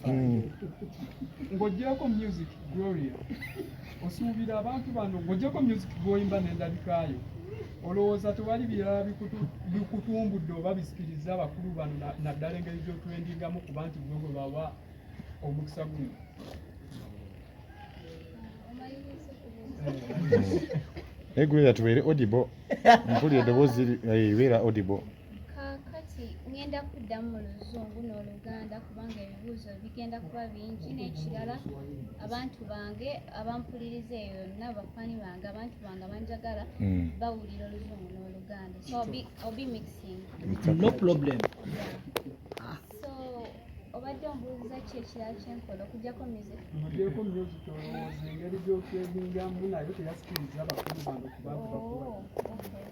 hmm. ng'ogyeko music gloria osuubira abantu bano ng'ogyeko music gwoyimba n'endabikaayo olowooza tewali birala bikutumbudde oba bisikiriza abakulu bano naddala engeri gy'otwendingamu kuba nti gwe gwe bawa omukisa guno egwera tubeere odibo mpulira eddoboozi eh, beera odibo Kaakati ŋŋenda kuddamu mu Luzungu n'Oluganda kubanga ebibuuzo bigenda kuba bingi. N'ekirala abantu bange abampuliriza eyo yonna, bafaani bange, abantu bange abanjagala hmm. bawulira Oluzungu n'Oluganda. So I'll be, I'll be mixing. No problem. Yeah. So obadde ombuuza ki ekirala kye nkola okujjako music? Okujjako music olowooza engeri gy'okwegingamu nayo teyasikiriza bakulu bange kubantu bakulu. Oh, okay.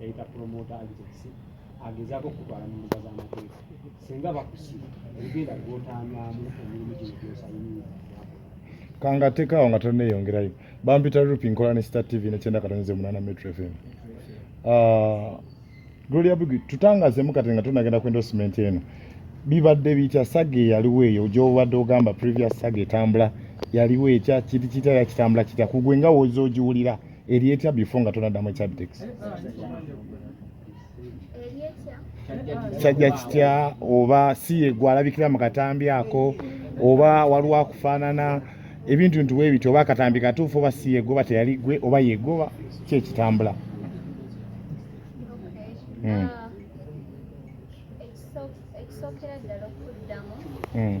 yayita promota agency agezaako okutwala mu mbuga z'amateeka singa bakusiba ebigenda gwotaanyamu emirimu gino gyosayinira kanga tekaawo nga toneyongerayo bampita rupi nkola ne star tv nekyenda katonze munana metro fm ah, gloria big tutangazemu kati nga tunagenda ku endorsement eno bibadde bitya saga eyaliwo eyo gyobadde ogamba previous saga etambula yaliwo ekya kiti kitala kitambula kitya kugwe nga woza ogiwulira Elieta before nga tonaddamu ekyabitex kyajja kitya oba si yegwe alabikira mu katambi ako oba waliwo akufaanana ebintu nti webiti oba akatambi katuufu oba si yegwe oba teyali gwe oba yegwe oba kyekitambula hmm. ah, ekisookera ddala okuddamu hmm.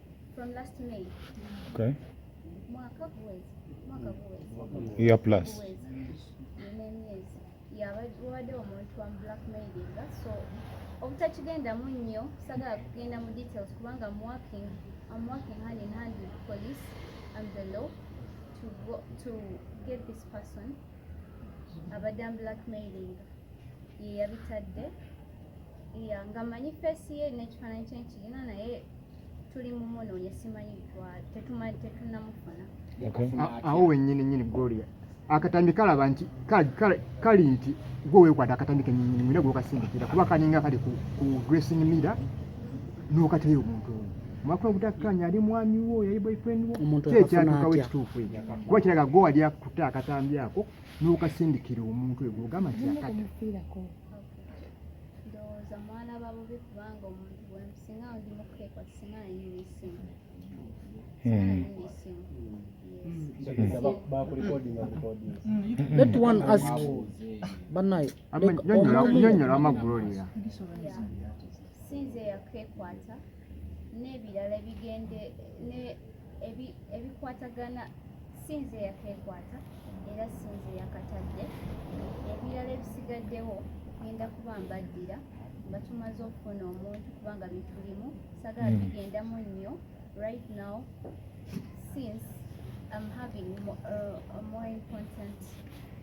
From last May. Okay. Mwaka kuwezi. Mwaka kuwezi. Year plus. Kuwezi. wabadde omuntu wa blackmailinga so obutakigendamu nnyo sagala kugenda mu details kubanga am working am working hand in hand with police and the law to, go, to get this person abadde am blackmailinga yeyabitadde ya nga manyi fesi ye nekifaananyi kyenkirina naye tuli mu munoonye simanyi tetumanyi tetunamufuna awo wenyini nyini gloria akatambi kalaba nti kali nti gwe wekwata akatambi kenyini mwina gwokasindikira kuba kaninga kali ku dressing mirror nokateyo omuntu oyo mwakula obutakkanya ali mwami wo yali boyfriend wo kyekyatukawo ekituufu ekyo kuba kiraga gwe wali akuta akatambi ako nokasindikira omuntu oyo gwogamba nti akata ndowooza mwana babubi kubanga omuntu wensi Hmm. Let one ask banaye nyonyola amagulolera sinze yakekwata n'ebirala ebigende ebikwatagana sinze eyakeekwata era sinze eyakatadde ebirala ebisigaddewo genda kuba mbaddira nga tumaze okufuna omuntu kubanga bitulimu sagala hmm. bigendamu nnyo right now since I'm having more, uh, more important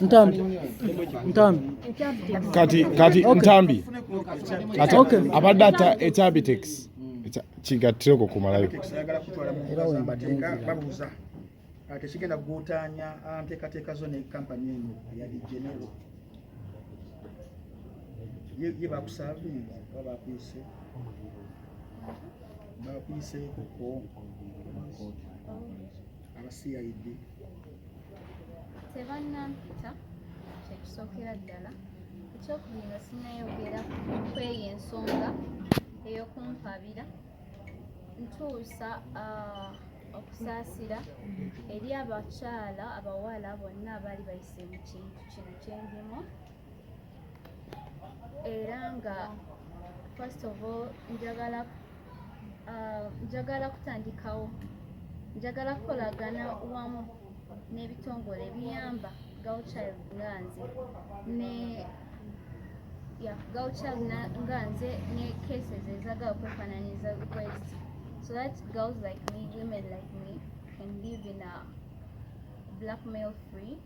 Ntambi. Ntambi. Kati kati okay. Ntambi. Kati okay. Abadde ata etabitex. Kigattire okwo kumalayo. Era wembadde babuuza. Ate kigenda kuguutaanya nteekateeka zo ne kampani eno ya Genero. Ye bakusaavinga oba bakuyise. Bakuyise kuko. aba CID tebannampita kyekisookera ddala ekyokubiri nga sinayogera kweyo ensonga eyokumpabira ntuusa ah, okusaasira eri abakyala abawala bonna abaali bayise mu kintu kino kyendimu era nga first of all njagala uh, njagala kutandikawo njagala kukolagana wamu n'ebitongole ebiyamba gauchild nga nze ne ya gauchild nga nze ne cases ezagala okwefananyiza request so that girls like me women like me can live in a blackmail free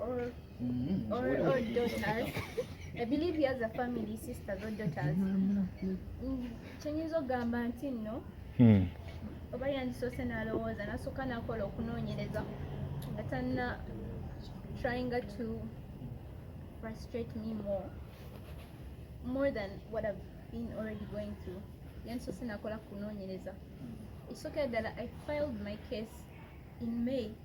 or mm-hmm. or, or daughters. I believe he has a family, sisters or daughters. Kyenyiza ogamba nti nno oba yandisoose n'alowooza nasooka nakola okunoonyereza nga tanna trying to frustrate me more more than what I've been already going through yandisoose nakola kunoonyereza ekisookera ddala I filed my case in May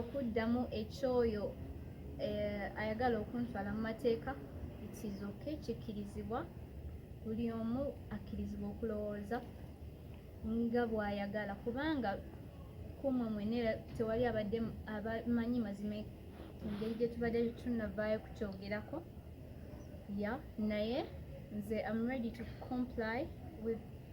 okuddamu ekyoyo eh, ayagala okuntwala mu mateeka ikizoke kikkirizibwa buli omu akkirizibwa okulowooza nga bw'ayagala kubanga kumwe mwene tewali abadde abamanyi mazima engeri gye tubadde tunavaayo kukyogerako ya naye nze am ready to comply with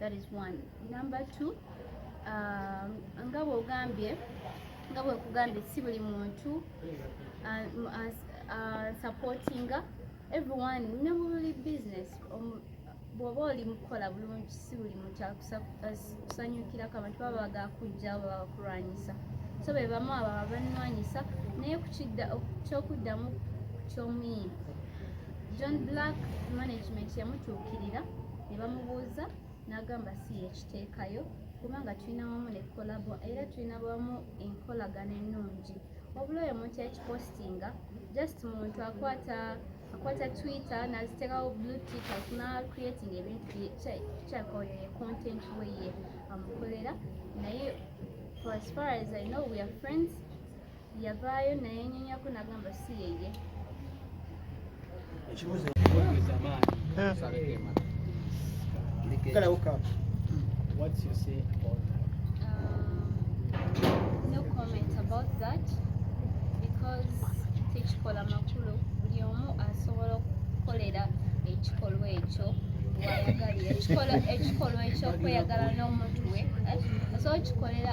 that is one number two uh, nga bwogambye nga bwekugambye si buli muntu uh, uh, uh, supportinga everyone ne mubuli business um, bwoba oli mukukola bulungi si buli muntu akusanyukirako abantu baba bagakujja baba bakulwanyisa so be bamu abo abanwanyisa naye kukidda kyokuddamu kyomuyimu John Black management yamutuukirira ne bamubuuza n'agamba si yekiteekayo kubanga tulina wamu ne kolabo era tulina wamu enkolagana ennungi wabula oyo omuntu yakipostinga just muntu akwata akwata twitter naziteekawo blue tickers na creating ebintu kyaka oyo ye content we ye amukolera naye for as far as i know we are friends yavaayo nayenyonyako nagamba si yeye ekibuzo What's your say about that? Um, no comment about that because tekikola makulu buli omu asobola okukolera ekikolwa ekyo wayagalira ekikolwa ekyokweyagala n'omuntu we asobola okikolera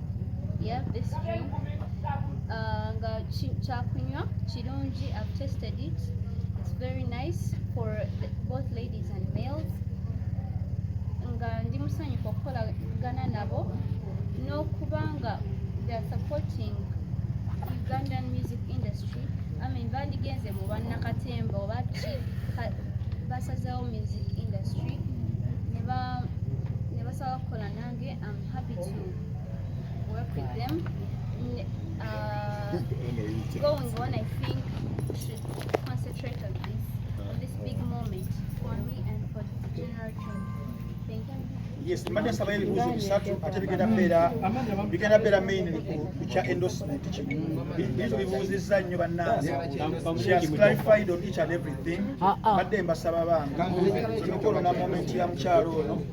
yeah this drink uh, nga kyakunywa kirungi i've tested it it's very nice for the, both ladies and males nga ndi musanyufu okukolagana nabo n'okuba nga they are supporting ugandan music industry i mean bandigenze mu bannakatemba oba ki basazewo music industry ne basaba kukola nange Yes, mbadde nsaba ebibuuzo bisatu ate bigenda beera bigenda beera main ku kya endorsement kino ebibuuzo bibuuzizza nnyo bannansi she has clarified on each and everything mbadde mbasaba bange emikolo na moment ya mukyalo ono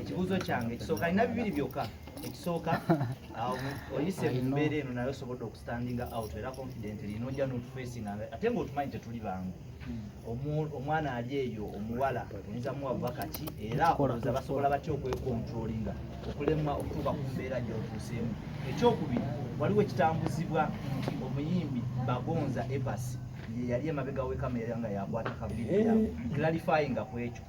ekibuuzo kyange ekisooka alina bibiri byokka ekisooka oyise mu mbeera eno naye osobodde okustandinga out era confidently nojja notufesinga ate ngaotumanyi tetuli bangu hmm. omwana ali eyo omuwala oyinza muwa bubaka ki era oza basobola batya okwekontrolinga okulemwa okutuuka ku mbeera gyotuuseemu ekyokubiri waliwo ekitambuzibwa nti omuyimbi bagonza ebasi yeyali emabega wekamera nga yakwata kavidiyo eh. clarifyinga ku ekyo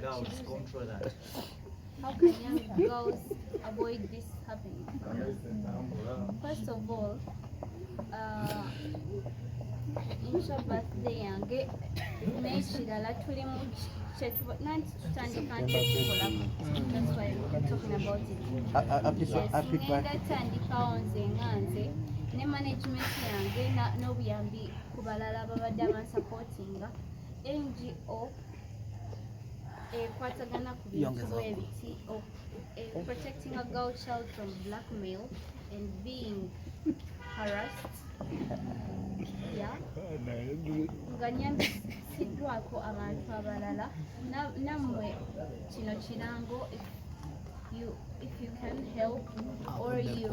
Girls, control that. How can young girls avoid this happening? First of all, uh, birthday yange naye kirala tuli mu nanti tutandika ntukikolako ndatandikawo nze nga nze ne management yange n'obuyambi ku balala babadde abansapotinga ngo ekwatagana ku bintu bwebiti oh, eh, protecting a girl child from blackmail and being harassed nga nyambisiddwako abantu abalala nammwe kino kirango if you can help or you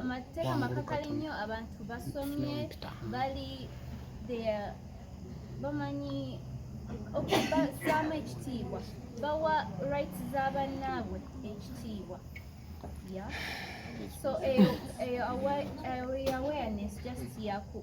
amateeka makakali nnyo abantu basomye bali bamanyi okubasaamu ekitiibwa bawa rights za bannaabwe ekitiibwa so eyo awareness just yaku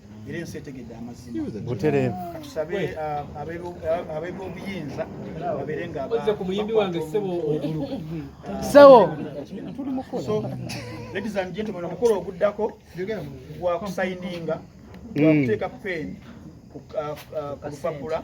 era ensi etegedde amazima butereevu katusabe uh, ab'ebyobuyinza babeere nga ozze ku muyimbi wange ssebo ogulu ssebo tuli mukola so ladies and gentlemen omukolo oguddako gwa kusayininga gwa mm. kuteeka pen ku uh, uh, lupapula